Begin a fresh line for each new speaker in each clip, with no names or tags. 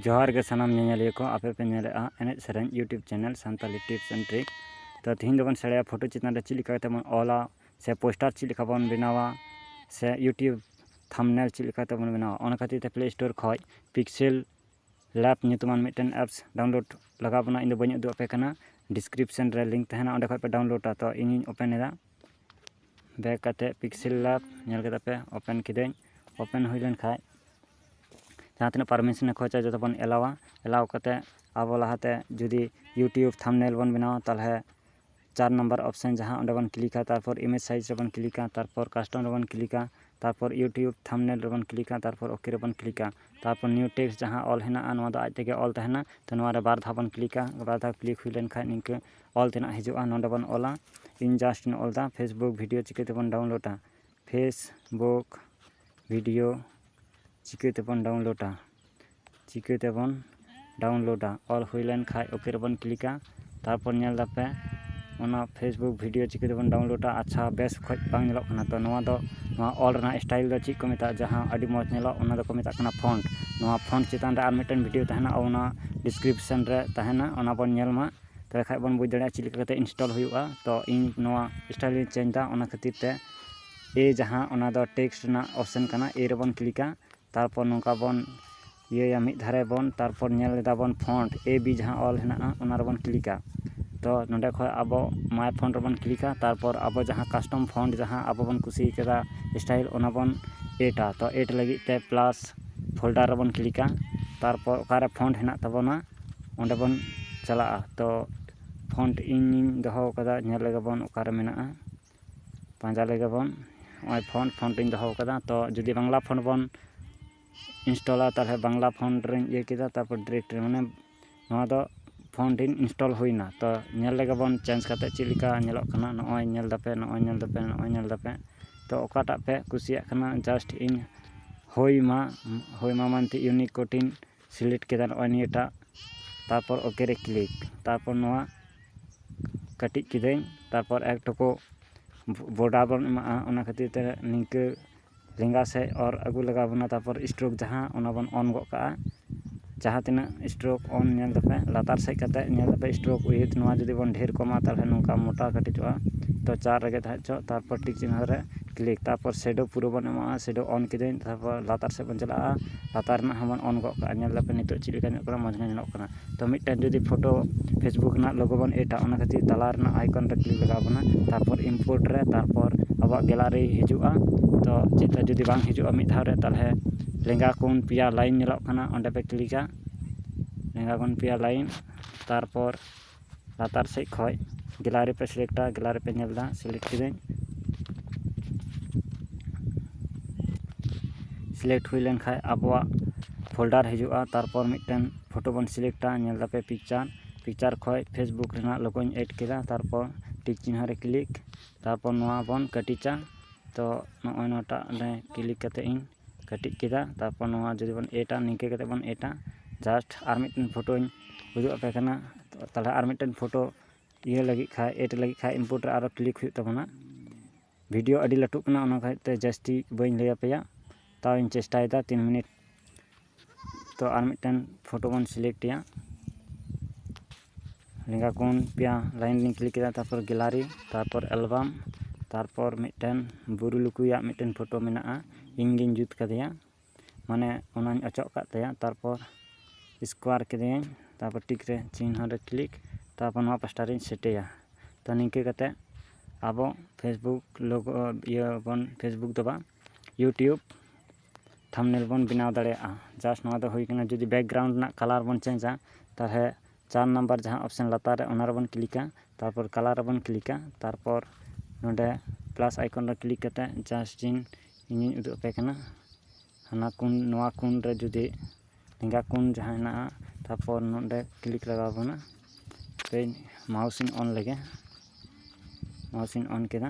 ᱡᱚᱦᱟᱨ ᱜᱮ ᱥᱟᱱᱟᱢ ᱧᱮᱧᱮᱞᱤᱭᱟᱹ ᱠᱚ ᱟᱯᱮ ᱯᱮ ᱧᱮᱞᱮᱫᱼᱟ ᱮᱱᱮᱡ ᱥᱮᱨᱮᱧ YouTube channel Santali tips and tricks ᱛᱚ ᱛᱮᱦᱮᱧ ᱫᱚᱵᱚᱱ ᱥᱮᱬᱟᱭᱟ ᱯᱷᱳᱴᱳ ᱪᱮᱛᱟᱱ ᱨᱮ ᱪᱮᱫ ᱞᱮᱠᱟ ᱠᱟᱛᱮᱫ ᱵᱚᱱ ᱚᱞᱟ ᱥᱮ ᱯᱳᱥᱴᱟᱨ ᱪᱮᱫ ᱞᱮᱠᱟ ᱵᱚᱱ ᱵᱮᱱᱟᱣᱟ ᱥᱮ ᱤᱭᱩᱴᱩᱵᱽ ᱛᱷᱟᱢᱵᱽᱱᱮᱞ ᱪᱮᱫ ᱞᱮᱠᱟ ᱛᱮᱵᱚᱱ ᱵᱮᱱᱟᱣᱟ ᱚᱱᱟ ᱠᱷᱟᱹᱛᱤᱨ ᱛᱮ ᱯᱞᱮ ᱥᱴᱳᱨ ᱠᱷᱚᱱ ᱯᱤᱠᱥᱮᱞ ᱞᱮᱵᱽ ᱧᱩᱛᱩᱢᱟᱱ ᱢᱤᱫᱴᱮᱱ ᱮᱯᱥ ᱰᱟᱣᱩᱱᱞᱳᱰ ᱞᱟᱜᱟᱣ ᱵᱚᱱᱟ ᱤᱧᱫᱚ ᱵᱟᱹᱧ ᱩᱫᱩᱜ ᱟᱯᱮ ᱠᱟᱱᱟ ᱰᱤᱥᱠᱨᱤᱯᱥᱚᱱ ᱨᱮ ᱞᱤᱝᱠ ᱛᱟᱦᱮᱱᱟ ᱚᱸᱰᱮ ᱠᱷᱚᱱ ᱯᱮ ᱰᱟᱣᱩᱱᱞᱳᱰᱼᱟ ᱛᱚ ᱤᱧᱤᱧ ᱳᱯᱮᱱ ᱮᱫᱟ ᱵᱮᱠ ᱠᱟᱛᱮᱫ ᱯᱤᱠᱥᱮᱞ ᱞᱮᱵ ᱧᱮᱞ ᱠᱮᱫᱟ ᱯᱮ ᱳᱯᱮᱱ ᱠᱤᱫᱟᱹᱧ ᱳᱯᱮᱱ ᱦᱩᱭ ᱞᱮᱱ ᱠᱷᱟᱱ ᱡᱟᱦᱟᱸ ᱛᱤᱱᱟᱹᱜ ᱯᱟᱨᱢᱤᱥᱚᱱᱮ ᱠᱷᱚᱡᱟ ᱡᱚᱛᱚ ᱵᱚᱱ ᱮᱞᱟᱣᱟ ᱮᱞᱟᱣ ᱠᱟᱛᱮᱫ ᱟᱵᱚ ᱞᱟᱦᱟᱛᱮ ᱡᱩᱫᱤ ᱤᱭᱩᱴᱩᱵᱽ ᱛᱷᱟᱢᱵᱽᱱᱮᱞ ᱵᱚᱱ ᱵᱮᱱᱟᱣᱟ ᱛᱟᱦᱚᱞᱮ ᱪᱟᱨ ᱱᱟᱢᱵᱟᱨ ᱚᱯᱷᱥᱮᱱ ᱡᱟᱦᱟᱸ ᱚᱸᱰᱮ ᱵᱚᱱ ᱠᱞᱤᱠᱟ ᱛᱟᱨᱯᱚᱨ ᱤᱢᱮᱡᱽ ᱥᱟᱭᱤᱡᱽ ᱨᱮᱵᱚᱱ ᱠᱞᱤᱠᱟ ᱛᱟᱨᱯᱚᱨ ᱠᱟᱥᱴᱚᱢ ᱨᱮᱵᱚᱱ ᱠᱞᱤᱠᱟ ᱛᱟᱨᱯᱚᱨ ᱤᱭᱩᱴᱩᱵᱽ ᱛᱷᱟᱢᱵᱽᱱᱮᱞ ᱨᱮᱵᱚᱱ ᱠᱞᱤᱠᱟ ᱛᱟᱨᱯᱚᱨ ᱳᱠᱮ ᱨᱮᱵᱚᱱ ᱠᱞᱤᱠᱟ ᱛᱟᱨᱯᱚᱨ ᱱᱤᱭᱩ ᱴᱮᱠᱥᱴ ᱡᱟᱦᱟᱸ ᱚᱞ ᱦᱮᱱᱟᱜᱼᱟ ᱱᱚᱣᱟ ᱫᱚ ᱟᱡ ᱛᱮᱜᱮ ᱚᱞ ᱛᱟᱦᱮᱱᱟ ᱛᱳ ᱱᱚᱣᱟᱨᱮ ᱵᱟᱨ ᱫᱷᱟᱣ ᱵᱚᱱ ᱠᱞᱤᱠᱟ ᱵᱟᱨ ᱫᱷᱟᱣ ᱠᱞᱤᱠ ᱦᱩᱭ ᱞᱮᱱᱠᱷᱟᱱ ᱱᱤᱝᱠᱟᱹ ᱚᱞ ᱛᱮᱱᱟᱜ ᱦᱤᱡᱩᱜᱼᱟ ᱱᱚᱰᱮ ᱵᱚᱱ ᱚᱞᱟ ᱤᱧ ᱡᱟᱥᱴ ᱤᱧ ᱚᱞ ᱮᱫᱟ ᱯᱷᱮᱥᱵᱩᱠ ᱵᱷᱤᱰᱭᱳ ᱪᱤᱠᱟᱹ ᱛᱮᱵᱚᱱ ᱰᱟᱣᱩᱱᱞᱳᱰᱟ ᱯᱷᱮᱥᱵᱩᱠ ᱵᱷᱤᱰᱭᱳ ᱪᱤᱠᱟᱹ ᱛᱮᱵᱚᱱ ᱰᱟᱣᱩᱱᱞᱳᱰᱟ ᱪᱤᱠᱟᱹ ᱛᱮᱵᱚᱱ ᱰᱟᱣᱩᱱᱞᱳᱰᱟ ᱚᱞ ᱦᱩᱭ ᱞᱮᱱ ᱠᱷᱟᱱ ᱳᱠᱮ ᱨᱮᱵᱚᱱ ᱠᱞᱤᱠᱟ ᱛᱟᱨᱯᱚᱨ ᱧᱮᱞ ᱮᱫᱟᱯᱮ ᱚᱱᱟ ᱯᱷᱮᱥᱵᱩᱠ ᱵᱷᱤᱰᱭᱳ ᱪᱤᱠᱟᱹ ᱛᱮᱵᱚᱱ ᱰᱟᱣᱩᱱᱞᱳᱰᱟ ᱟᱪᱪᱷᱟ ᱵᱮᱥ ᱚᱠᱚᱡ ᱵᱟᱝ ᱧᱮᱞᱚᱜ ᱠᱟᱱᱟ ᱛᱳ ᱱᱚᱣᱟ ᱫᱚ ᱱᱚᱣᱟ ᱚᱞ ᱨᱮᱱᱟᱜ ᱥᱴᱟᱭᱤᱞ ᱫᱚ ᱪᱮᱫ ᱠᱚ ᱢᱮᱛᱟᱜᱼᱟ ᱡᱟᱦᱟᱸ ᱟᱹᱰᱤ ᱢᱚᱡᱽ ᱧᱮᱞᱚᱜ ᱚᱱᱟ ᱫᱚᱠᱚ ᱢᱮᱛᱟᱜ ᱠᱟᱱᱟ ᱯᱷᱳᱱᱴ ᱱᱚᱣᱟ ᱯᱷᱳᱱᱴ ᱪᱮᱛᱟᱱ ᱨᱮ ᱟᱨ ᱢᱤᱫᱴᱮᱱ ᱵᱷᱤᱰᱭᱳ ᱛᱟᱦᱮᱱᱟ ᱚᱱᱟ ᱰᱤᱥᱠᱨᱤᱯᱥᱮᱱ ᱨᱮ ᱛᱟᱦᱮᱱᱟ ᱚᱱᱟ ᱵᱚᱱ ᱧᱮᱞ ᱢᱟ ᱛᱚᱵᱮ ᱠᱷᱟᱡ ᱵᱚᱱ ᱵᱩᱡᱽ ᱫᱟᱲᱮᱭᱟᱜᱼᱟ ᱪᱮᱫ ᱞᱮᱠᱟ ᱠᱟᱛᱮᱫ ᱤᱱᱥᱴᱚᱞ ᱦᱩᱭᱩᱜᱼᱟ ᱛᱚ ᱤᱧ ᱱᱚᱣᱟ ᱥᱴᱟᱭᱤᱞ ᱤᱧ ᱪᱮᱧᱡᱽ ᱮᱫᱟ ᱚᱱᱟ ᱠᱷᱟᱹᱛᱤᱨ ᱛᱮ ᱮ ᱡᱟᱦᱟᱸ ᱚᱱᱟ ᱫᱚ ᱴᱮᱠᱥᱴ ᱨᱮᱱᱟᱜ ᱚᱯᱷᱥᱮᱱ ᱠᱟᱱᱟ ᱮ ᱨᱮᱵᱚᱱ ᱠᱞᱤᱠᱟ ᱛᱟᱨᱯᱚᱨ ᱱᱚᱝᱠᱟ ᱵᱚᱱ ᱤᱭᱟᱹᱭᱟ ᱢᱤᱫ ᱫᱷᱟᱨᱮ ᱵᱚᱱ ᱛᱟᱨᱯᱚᱨ ᱧᱮᱞ ᱮᱫᱟ ᱵᱚᱱ ᱯᱷᱚᱱᱴ ᱮ ᱵᱤ ᱡᱟᱦᱟᱸ ᱚᱞ ᱦᱮᱱᱟᱜᱼᱟ ᱚᱱᱟ ᱨᱮᱵᱚᱱ ᱠᱞᱤᱠᱟ ᱛᱚ ᱱᱚᱰᱮ ᱠᱷᱚᱡ ᱟᱵᱚ ᱢᱟᱭ ᱯᱷᱚᱱᱴ ᱨᱮᱵᱚᱱ ᱠᱞᱤᱠᱟ ᱛᱟᱨᱯᱚᱨ ᱟᱵᱚ ᱡᱟᱦᱟᱸ ᱠᱟᱥᱴᱚᱢ ᱯᱷᱚᱱᱴ ᱡᱟᱦᱟᱸ ᱟᱵᱚ ᱵᱚᱱ ᱠᱩᱥᱤ ᱠᱟᱫᱟ ᱥᱴᱟᱭᱤᱞ ᱚᱱᱟ ᱵᱚᱱ ᱮᱰᱟ ᱛᱚ ᱮᱰ ᱞᱟᱹᱜᱤᱫ ᱛᱮ ᱯᱞᱟᱥ ᱯᱷᱳᱞᱰᱟᱨ ᱨᱮᱵᱚᱱ ᱠᱞᱤᱠᱟ ᱛᱟᱨᱯᱚᱨ ᱚᱠᱟᱨᱮ ᱯᱷᱚᱱᱴ ᱦᱮᱱᱟᱜ ᱛᱟᱵᱚᱱᱟ ᱚᱸᱰᱮ ᱵᱚᱱ ᱪᱟᱞᱟᱜᱼᱟ ᱛᱚ ᱯᱷᱳᱱ ᱛᱮ ᱤᱧᱤᱧ ᱫᱚᱦᱚ ᱠᱟᱫᱟ ᱧᱮᱞ ᱞᱮᱜᱮ ᱵᱚᱱ ᱚᱠᱟᱨᱮ ᱢᱮᱱᱟᱜᱼᱟ ᱯᱟᱸᱡᱟ ᱞᱮᱜᱮ ᱵᱚᱱ ᱱᱚᱜᱼᱚᱭ ᱯᱷᱳᱱ ᱯᱷᱳᱱ ᱛᱤᱧ ᱫᱚᱦᱚ ᱠᱟᱫᱟ ᱛᱚ ᱡᱩᱫᱤ ᱵᱟᱝᱞᱟ ᱯᱷᱳᱱ ᱵᱚᱱ ᱤᱱᱥᱴᱚᱞᱟ ᱛᱟᱦᱚᱞᱮ ᱵᱟᱝᱞᱟ ᱯᱷᱳᱱ ᱨᱤᱧ ᱤᱭᱟᱹ ᱠᱮᱫᱟ ᱛᱟᱨᱯᱚᱨ ᱰᱤᱨᱮᱠᱴ ᱨᱮ ᱢᱟᱱᱮ ᱱᱚᱣᱟ ᱫᱚ ᱯᱷᱳᱱ ᱨᱤᱧ ᱤᱱᱥᱴᱚᱞ ᱦᱩᱭᱱᱟ ᱛᱚ ᱧᱮᱞ ᱞᱮᱜᱮ ᱵᱚᱱ ᱪᱮᱧᱡᱽ ᱠᱟᱛᱮ ᱪᱮᱫ ᱞᱮᱠᱟ ᱧᱮᱞᱚᱜ ᱠᱟᱱᱟ ᱱᱚᱜᱼᱚᱭ ᱧᱮᱞ ᱫᱟᱯᱮ ᱱᱚᱜᱼᱚᱭ ᱧᱮᱞ ᱫᱟᱯᱮ ᱱᱚᱜᱼᱚᱭ ᱧᱮᱞ ᱫᱟᱯᱮ ᱛᱚ ᱚᱠᱟᱴᱟᱜ ᱯᱮ ᱠᱩᱥᱤᱭᱟᱜ ᱠᱟᱱᱟ ᱡᱟᱥᱴ ᱤᱧ ᱦᱳᱭ ᱢᱟ ᱦᱳᱭ ᱢᱟ ᱢᱮᱱᱛᱮ ᱤᱭᱩᱱᱤᱠᱳᱰ ᱤᱧ ᱥᱤᱞᱮᱠᱴ ᱠᱮᱫᱟ ᱱᱚᱜᱼᱚᱭ ᱱᱤᱭᱟᱹᱴᱟᱜ ᱛᱟᱨᱯᱚᱨ ᱳᱠᱮ ᱨᱮ ᱠᱞᱤᱠ ᱛᱟᱨᱯᱚᱨ ᱱᱚᱣᱟ ᱠᱟᱹᱴᱤᱡ ᱠᱤᱫᱟᱹᱧ ᱛᱟᱨᱯᱚᱨ ᱮᱠ ᱴᱩᱠᱩ ᱵᱚᱰᱟᱨ ᱵᱚᱱ ᱮᱢᱟᱜᱼᱟ ᱚᱱᱟ ᱠᱷᱟᱹᱛᱤᱨ ᱛᱮ ᱱᱤᱝᱠᱟᱹ ᱞᱮᱸᱜᱟ ᱥᱮᱫ ᱚᱨ ᱟᱹᱜᱩ ᱞᱟᱜᱟᱣ ᱵᱚᱱᱟ ᱛᱟᱨᱯᱚᱨ ᱥᱴᱨᱳᱠ ᱡᱟᱦᱟᱸ ᱚᱱᱟ ᱵᱚᱱ ᱚᱱ ᱜᱚᱫ ᱠᱟᱜᱼᱟ ᱡᱟᱦᱟᱸ ᱛᱤᱱᱟᱹᱜ ᱥᱴᱨᱳᱠ ᱚᱱ ᱧᱮᱞ ᱫᱟᱯᱮ ᱞᱟᱛᱟᱨ ᱥᱮᱫ ᱠᱟᱛᱮᱫ ᱧᱮᱞ ᱫᱟᱯᱮ ᱥᱴᱨᱳᱠ ᱩᱭᱤᱛᱷ ᱱᱚᱣᱟ ᱡᱩᱫᱤ ᱵᱚᱱ ᱰᱷᱮᱨ ᱠᱚᱢᱟ ᱛᱟᱦᱚᱞᱮ ᱱᱚᱝᱠᱟ ᱢᱳᱴᱟ ᱠᱟᱹᱴᱤᱡᱚᱜᱼᱟ ᱛᱳ ᱪᱟᱨ ᱨᱮᱜᱮ ᱛᱟᱦᱮᱸ ᱦᱚᱪᱚᱣᱟᱜ ᱛᱟᱨᱯᱚᱨ ᱴᱤᱠ ᱪᱤᱱᱦᱟᱹ ᱨᱮ ᱠᱞᱤᱠ ᱛᱟᱨᱯᱚᱨ ᱥᱮᱰᱳ ᱯᱩᱨᱟᱹ ᱵᱚᱱ ᱮᱢᱟᱜᱼᱟ ᱥᱮᱰᱳ ᱚᱱ ᱠᱤᱫᱟᱹᱧ ᱛᱟᱨᱯᱚᱨ ᱞᱟᱛᱟᱨ ᱥᱮᱫ ᱵᱚᱱ ᱪᱟᱞᱟᱜᱼᱟ ᱞᱟᱛᱟᱨ ᱨᱮᱱᱟᱜ ᱦᱚᱸᱵᱚᱱ ᱚᱱ ᱜᱚᱫ ᱠᱟᱜᱼᱟ ᱧᱮᱞ ᱫᱟᱯᱮ ᱱᱤᱛᱚᱜ ᱪᱮᱫ ᱞᱮᱠᱟ ᱧᱮᱞᱚᱜ ᱠᱟᱱᱟ ᱢᱚᱡᱽ ᱜᱮ ᱧᱮᱞᱚᱜ ᱠᱟᱱᱟ ᱛᱳ ᱢᱤᱫᱴᱮᱱ ᱡᱩᱫᱤ ᱯᱷᱳᱴᱳ ᱯᱷᱮᱥᱵᱩᱠ ᱨᱮᱱᱟᱜ ᱞᱳᱜᱳ ᱵᱚᱱ ᱮᱰᱟ ᱚᱱᱟ ᱠᱷᱟᱹᱛᱤᱨ ᱛᱟᱞᱟ ᱨᱮᱱᱟᱜ ᱟᱭᱠᱚᱱ ᱨᱮ ᱠᱞᱤᱠ ᱞᱟᱜᱟᱣ ᱵᱚᱱᱟ ᱛᱟᱨᱯᱚᱨ ᱤᱱᱯᱳᱨᱴ ᱨᱮ ᱛᱟᱨᱯᱚᱨ ᱟᱵᱚᱣᱟᱜ ᱜᱮᱞᱟᱨᱤ ᱦᱤᱡᱩᱜᱼᱟ ᱛᱳ ᱪᱮᱫ ᱠᱟ ᱡᱩᱫᱤ ᱵᱟᱝ ᱦᱤᱡᱩᱜᱼᱟ ᱢᱤᱫ ᱫᱷᱟᱣ ᱨᱮ ᱛᱟᱦᱚᱞᱮ ᱞᱮᱸᱜᱟ ᱠᱚᱱ ᱯᱮᱭᱟ ᱞᱟᱭᱤᱱ ᱧᱮᱞᱚᱜ ᱠᱟᱱᱟ ᱚᱸᱰᱮ ᱯᱮ ᱠᱞᱤᱠᱟ ᱞᱮᱸᱜᱟ ᱠᱚᱱ ᱯᱮᱭᱟ ᱞᱟᱭᱤᱱ ᱛᱟᱨᱯᱚᱨ ᱞᱟᱛᱟᱨ ᱥᱮᱫ ᱠᱷᱚᱱ ᱜᱮᱞᱟᱨᱤ ᱯᱮ ᱥᱤᱞᱮᱠᱴᱟ ᱜᱮᱞᱟᱨᱤ ᱯᱮ ᱧᱮᱞ ᱮᱫᱟ ᱥᱤᱞᱮᱠᱴ ᱠᱤᱫᱟᱹᱧ ᱥᱤᱞᱮᱠᱴ ᱦᱩᱭ ᱞᱮᱱᱠᱷᱟᱱ ᱟᱵᱚᱣᱟᱜ ᱯᱷᱳᱞᱰᱟᱨ ᱦᱤᱡᱩᱜᱼᱟ ᱛᱟᱨᱯᱚᱨ ᱢᱤᱫᱴᱮᱱ ᱯᱷᱳᱴᱳ ᱵᱚᱱ ᱥᱤᱞᱮᱠᱴᱟ ᱧᱮᱞ ᱮᱫᱟᱯᱮ ᱯᱤᱠᱪᱟᱨ ᱯᱤᱠᱪᱟᱨ ᱠᱷᱚᱱ ᱯᱷᱮᱥᱵᱩᱠ ᱨᱮᱱᱟᱜ ᱞᱳᱜᱳᱧ ᱮᱰ ᱠᱮᱫᱟ ᱛᱟᱨᱯᱚᱨ ᱴᱤᱠ ᱪᱤᱱᱦᱟᱹ ᱨᱮ ᱠᱞᱤᱠ ᱛᱟᱨᱯᱚᱨ ᱱᱚᱣᱟ ᱵᱚᱱ ᱠᱟᱹᱴᱤᱡᱟ ᱛᱚ ᱱᱚᱜᱼᱚᱭ ᱱᱚᱣᱟᱴᱟᱜ ᱨᱮ ᱠᱞᱤᱠ ᱠᱟᱛᱮᱫ ᱤᱧ ᱠᱟᱹᱴᱤᱡ ᱠᱮᱫᱟ ᱛᱟᱨᱯᱚᱨ ᱱᱚᱣᱟ ᱡᱩᱫᱤ ᱵᱚᱱ ᱮᱰᱟ ᱱᱤᱝᱠᱟᱹ ᱠᱟᱛᱮᱫ ᱵᱚᱱ ᱮᱰᱟ ᱡᱟᱥᱴ ᱟᱨ ᱢᱤᱫᱴᱮᱱ ᱯᱷᱳᱴᱳᱧ ᱩᱫᱩᱜ ᱟᱯᱮ ᱠᱟᱱᱟ ᱛᱟᱦᱚᱞᱮ ᱟᱨ ᱢᱤᱫᱴᱮᱱ ᱯᱷᱳᱴᱳ ᱤᱭᱟᱹ ᱞᱟᱹᱜᱤᱫ ᱠᱷᱟᱱ ᱮᱰ ᱞᱟᱹᱜᱤᱫ ᱠᱷᱟᱱ ᱤᱱᱯᱳᱨᱴ ᱨᱮ ᱟᱨᱚ ᱠᱞᱤᱠ ᱦᱩᱭᱩᱜ ᱛᱟᱵᱚᱱᱟ ᱵᱷᱤᱰᱭᱳ ᱟᱹᱰᱤ ᱞᱟᱹᱴᱩᱜ ᱠᱟᱱᱟ ᱚᱱᱟ ᱠᱷᱟᱹᱛᱤᱨ ᱛᱮ ᱡᱟᱹᱥᱛᱤ ᱵᱟᱹᱧ ᱞᱟᱹᱭ ᱟᱯᱮᱭᱟ ᱛᱟᱣ ᱤᱧ ᱪᱮᱥᱴᱟᱭᱮᱫᱟ ᱛᱤᱱ ᱢᱤᱱᱤᱴ ᱛᱚ ᱟᱨ ᱢᱤᱫᱴᱮᱱ ᱯᱷᱳᱴᱳ ᱵᱚᱱ ᱥᱤᱞᱮᱠᱴ ᱮᱫᱟ ᱞᱮᱸᱜᱟ ᱠᱚᱱ ᱯᱮᱭᱟ ᱞᱟᱭᱤᱱ ᱞᱤᱧ ᱠᱞᱤᱠ ᱠᱮᱫᱟ ᱛᱟᱨᱯᱚᱨ ᱜᱮᱞᱟᱨᱤ ᱛᱟᱨᱯᱚᱨ ᱮᱞᱵᱟᱢ ᱛᱟᱨᱯᱚᱨ ᱢᱤᱫᱴᱮᱱ ᱵᱩᱨᱩ ᱞᱩᱠᱩᱭᱟᱜ ᱢᱤᱫᱴᱮᱱ ᱯᱷᱳᱴᱳ ᱢᱮᱱᱟᱜᱼᱟ ᱤᱧ ᱜᱤᱧ ᱡᱩᱛ ᱠᱟᱫᱮᱭᱟ ᱢᱟᱱᱮ ᱚᱱᱟᱧ ᱚᱪᱚᱜ ᱟᱠᱟᱫ ᱛᱟᱭᱟ ᱛᱟᱨᱯᱚᱨ ᱥᱠᱚᱭᱟᱨ ᱠᱮᱫᱮᱭᱟᱹᱧ ᱛᱟᱨᱯᱚᱨ ᱴᱤᱠ ᱨᱮ ᱪᱤᱱᱦᱟᱹ ᱨᱮ ᱠᱞᱤᱠ ᱛᱟᱨᱯᱚᱨ ᱱᱚᱣᱟ ᱯᱟᱥᱴᱟ ᱨᱤᱧ ᱥᱮᱴ ᱮᱫᱟ ᱛᱚ ᱱᱤᱝᱠᱟᱹ ᱠᱟᱛᱮᱫ ᱟᱵᱚ ᱯᱷᱮᱥᱵᱩᱠ ᱞᱳᱜᱳ ᱤᱭᱟᱹ ᱵᱚᱱ ᱯᱷᱮᱥᱵᱩᱠ ᱫᱚ ᱵᱟᱝ ᱤᱭᱩᱴᱩᱵᱽ ᱛᱷᱟᱢᱱᱮᱞ ᱵᱚᱱ ᱵᱮᱱᱟᱣ ᱫᱟᱲᱮᱭᱟᱜᱼᱟ ᱡᱟᱥᱴ ᱱᱚᱣᱟ ᱫᱚ ᱦᱩᱭ ᱠᱟᱱᱟ ᱡᱩᱫᱤ ᱵᱮᱠᱜᱨᱟᱣᱩᱱᱰ ᱨᱮᱱᱟᱜ ᱠᱟᱞᱟᱨ ᱵᱚᱱ ᱪᱮᱧᱡᱟ ᱛᱟᱦᱚᱞᱮ ᱪᱟᱨ ᱱᱟᱢᱵᱟᱨ ᱡᱟᱦᱟᱸ ᱚᱯᱷᱥᱮᱱ ᱞᱟᱛᱟᱨ ᱨᱮ ᱚᱱᱟ ᱨᱮᱵᱚᱱ ᱠᱞᱤᱠᱟ ᱛᱟᱨᱯᱚᱨ ᱠᱟᱞᱟᱨ ᱨᱮᱵᱚᱱ ᱠᱞᱤᱠᱟ ᱛᱟᱨᱯᱚᱨ ᱱᱚᱰᱮ ᱯᱞᱟᱥ ᱟᱭᱠᱚᱱ ᱨᱮ ᱠᱞᱤᱠ ᱠᱟᱛᱮᱫ ᱡᱟᱥᱴ ᱤᱧ ᱤᱧᱤᱧ ᱩᱫᱩᱜ ᱟᱯᱮ ᱠᱟᱱᱟ ᱦᱟᱱᱟ ᱠᱩᱱ ᱱᱚᱣᱟ ᱠᱩᱱ ᱨᱮ ᱡᱩᱫᱤ ᱞᱮᱸᱜᱟ ᱠᱩᱱ ᱡᱟᱦᱟᱸ ᱦᱮᱱᱟᱜᱼᱟ ᱛᱟᱨᱯᱚᱨ ᱱᱚᱰᱮ ᱠᱞᱤᱠ ᱞᱟᱜᱟᱣ ᱵᱚᱱᱟ ᱦᱟᱯᱮ ᱢᱟᱣᱩᱥ ᱤᱧ ᱚᱱ ᱞᱮᱜᱮ ᱢᱟᱣᱩᱥ ᱤᱧ ᱚᱱ ᱠᱮᱫᱟ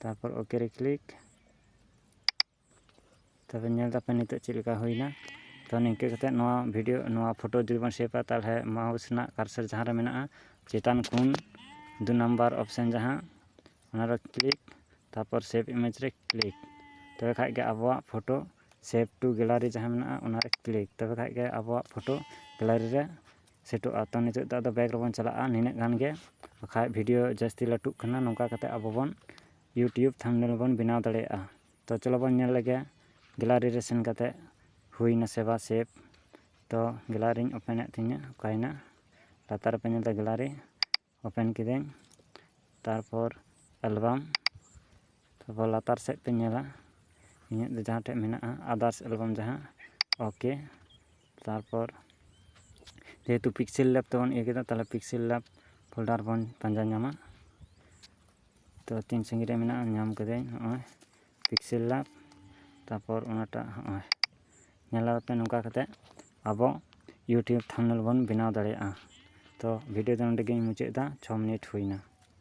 ᱛᱟᱨᱯᱚᱨ ᱳᱠᱮ ᱨᱮ ᱠᱞᱤᱠ ᱛᱚᱵᱮ ᱧᱮᱞ ᱫᱟᱯᱮ ᱱᱤᱛᱚᱜ ᱪᱮᱫ ᱞᱮᱠᱟ ᱦᱩᱭᱱᱟ ᱛᱚ ᱱᱤᱝᱠᱟᱹ ᱠᱟᱛᱮᱫ ᱱᱚᱣᱟ ᱵᱷᱤᱰᱭᱳ ᱱᱚᱣᱟ ᱯᱷᱳᱴᱳ ᱡᱩᱫᱤ ᱵᱚᱱ ᱥᱮᱵᱷᱟ ᱛᱟᱦᱚᱞᱮ ᱢᱟᱣᱩᱥ ᱨᱮᱱᱟᱜ ᱠᱟᱨᱥᱟᱨ ᱡᱟᱦᱟᱸ ᱨᱮ ᱢᱮᱱᱟᱜᱼᱟ ᱪᱮᱛᱟᱱ ᱠᱷᱚᱱ ᱫᱩ ᱱᱟᱢᱵᱟᱨ ᱚᱯᱷᱥᱮᱱ ᱡᱟᱦᱟᱸ ᱚᱱᱟ ᱨᱮ ᱠᱞᱤᱠ ᱛᱟᱨᱯᱚᱨ ᱥᱮᱵᱷ ᱤᱢᱮᱡᱽ ᱨᱮ ᱠᱞᱤᱠ ᱛᱚᱵᱮ ᱠᱷᱟᱱ ᱜᱮ ᱟᱵᱚᱣᱟᱜ ᱯᱷᱳᱴᱳ ᱥᱮᱵᱷ ᱴᱩ ᱜᱮᱞᱟᱨᱤ ᱡᱟᱦᱟᱸ ᱢᱮᱱᱟᱜᱼᱟ ᱚᱱᱟ ᱨᱮ ᱠᱞᱤᱠ ᱛᱚᱵᱮ ᱠᱷᱟᱱ ᱜᱮ ᱟᱵᱚᱣᱟᱜ ᱯᱷᱳᱴᱳ ᱜᱮᱞᱟᱨᱤ ᱨᱮ ᱥᱮᱴᱚᱜᱼᱟ ᱛᱚ ᱱᱤᱛᱚᱜ ᱫᱚ ᱵᱮᱠ ᱨᱮᱵᱚᱱ ᱪᱟᱞᱟᱜᱼᱟ ᱱᱤᱱᱟᱹᱜ ᱜᱟᱱ ᱜᱮ ᱵᱟᱠᱷᱟᱡ ᱵᱷᱤᱰᱤᱭᱳ ᱡᱟᱹᱥᱛᱤ ᱞᱟᱹᱴᱩᱜ ᱠᱟᱱᱟ ᱱᱚᱝᱠᱟ ᱠᱟᱛᱮ ᱟᱵᱚ ᱵᱚᱱ ᱤᱭᱩᱴᱩᱵᱽ ᱛᱷᱟᱢᱵᱽᱱᱮᱞ ᱵᱚᱱ ᱵᱮᱱᱟᱣ ᱫᱟᱲᱮᱭᱟᱜᱼᱟ ᱛᱚ ᱪᱚᱞᱚ ᱵᱚᱱ ᱧᱮᱞ ᱞᱮᱜᱮ ᱜᱮᱞᱟᱨᱤ ᱨᱮ ᱥᱮᱱ ᱠᱟᱛᱮ ᱦᱩᱭ ᱱᱟᱥᱮ ᱵᱟ ᱥᱮᱵᱷ ᱛᱚ ᱜᱮᱞᱟᱨᱤᱧ ᱳᱯᱮᱱᱮᱜ ᱛᱤᱧᱟᱹ ᱚᱠᱟᱭᱮᱱᱟ ᱞᱟᱛᱟᱨ ᱨᱮᱯᱮ ᱧᱮᱞᱫᱟ ᱜᱮᱞᱟᱨᱤ ᱳᱯᱮᱱ ᱠᱤᱫᱟᱹᱧ ᱛᱟᱨᱯᱚᱨ ᱮᱞᱵᱟᱢ ᱛᱟᱨᱯᱚᱨ ᱞᱟᱛᱟᱨ ᱥᱮᱫ ᱛᱤᱧ ᱧᱮᱞᱟ ᱤᱧᱟᱹᱜ ᱫᱚ ᱡᱟᱦᱟᱸ ᱴᱷᱮᱡ ᱢᱮᱱᱟᱜᱼᱟ ᱟᱫᱟᱨᱥ ᱮᱞᱵᱟᱢ ᱡᱟᱦᱟᱸ ᱳᱠᱮ ᱛᱟᱨᱯᱚᱨ ᱡᱮᱦᱮᱛᱩ ᱯᱤᱠᱥᱮᱞ ᱞᱮᱯ ᱛᱮᱵᱚᱱ ᱤᱭᱟᱹ ᱠᱮᱫᱟ ᱛᱟᱦᱚᱞᱮ ᱯᱤᱠᱥᱮᱞ ᱞᱮᱯ ᱯᱷᱳᱞᱰᱟᱨ ᱵᱚᱱ ᱯᱟᱸᱡᱟ ᱧᱟᱢᱟ ᱛᱚ ᱛᱤᱱ ᱥᱟᱺᱜᱤᱧ ᱨᱮ ᱢᱮᱱᱟᱜᱼᱟ ᱧᱟᱢ ᱠᱟᱹᱫᱟᱹᱧ ᱱᱚᱜᱼᱚᱭ ᱯᱤᱠᱥᱮᱞ ᱞᱮᱯ ᱛᱟᱨᱯᱚᱨ ᱚᱱᱟᱴᱟᱜ ᱱᱚᱜᱼᱚᱭ ᱧᱮᱞᱟᱜ ᱯᱮ ᱱᱚᱝᱠᱟ ᱠᱟᱛᱮ ᱟᱵᱚ ᱤᱭᱩᱴᱩᱵᱽ ᱛᱷᱟᱢᱵᱽᱱᱮᱞ ᱵᱚᱱ ᱵᱮᱱᱟᱣ ᱫᱟᱲᱮᱭᱟᱜᱼᱟ ᱛᱚ ᱵᱷᱤᱰᱤᱭᱳ ᱫᱚ ᱱᱚᱰᱮ ᱜᱮᱧ ᱢᱩᱪᱟᱹᱫ ᱮᱫᱟ ᱪᱷᱚ ᱢᱤᱱᱤᱴ ᱦᱩᱭ ᱮᱱᱟ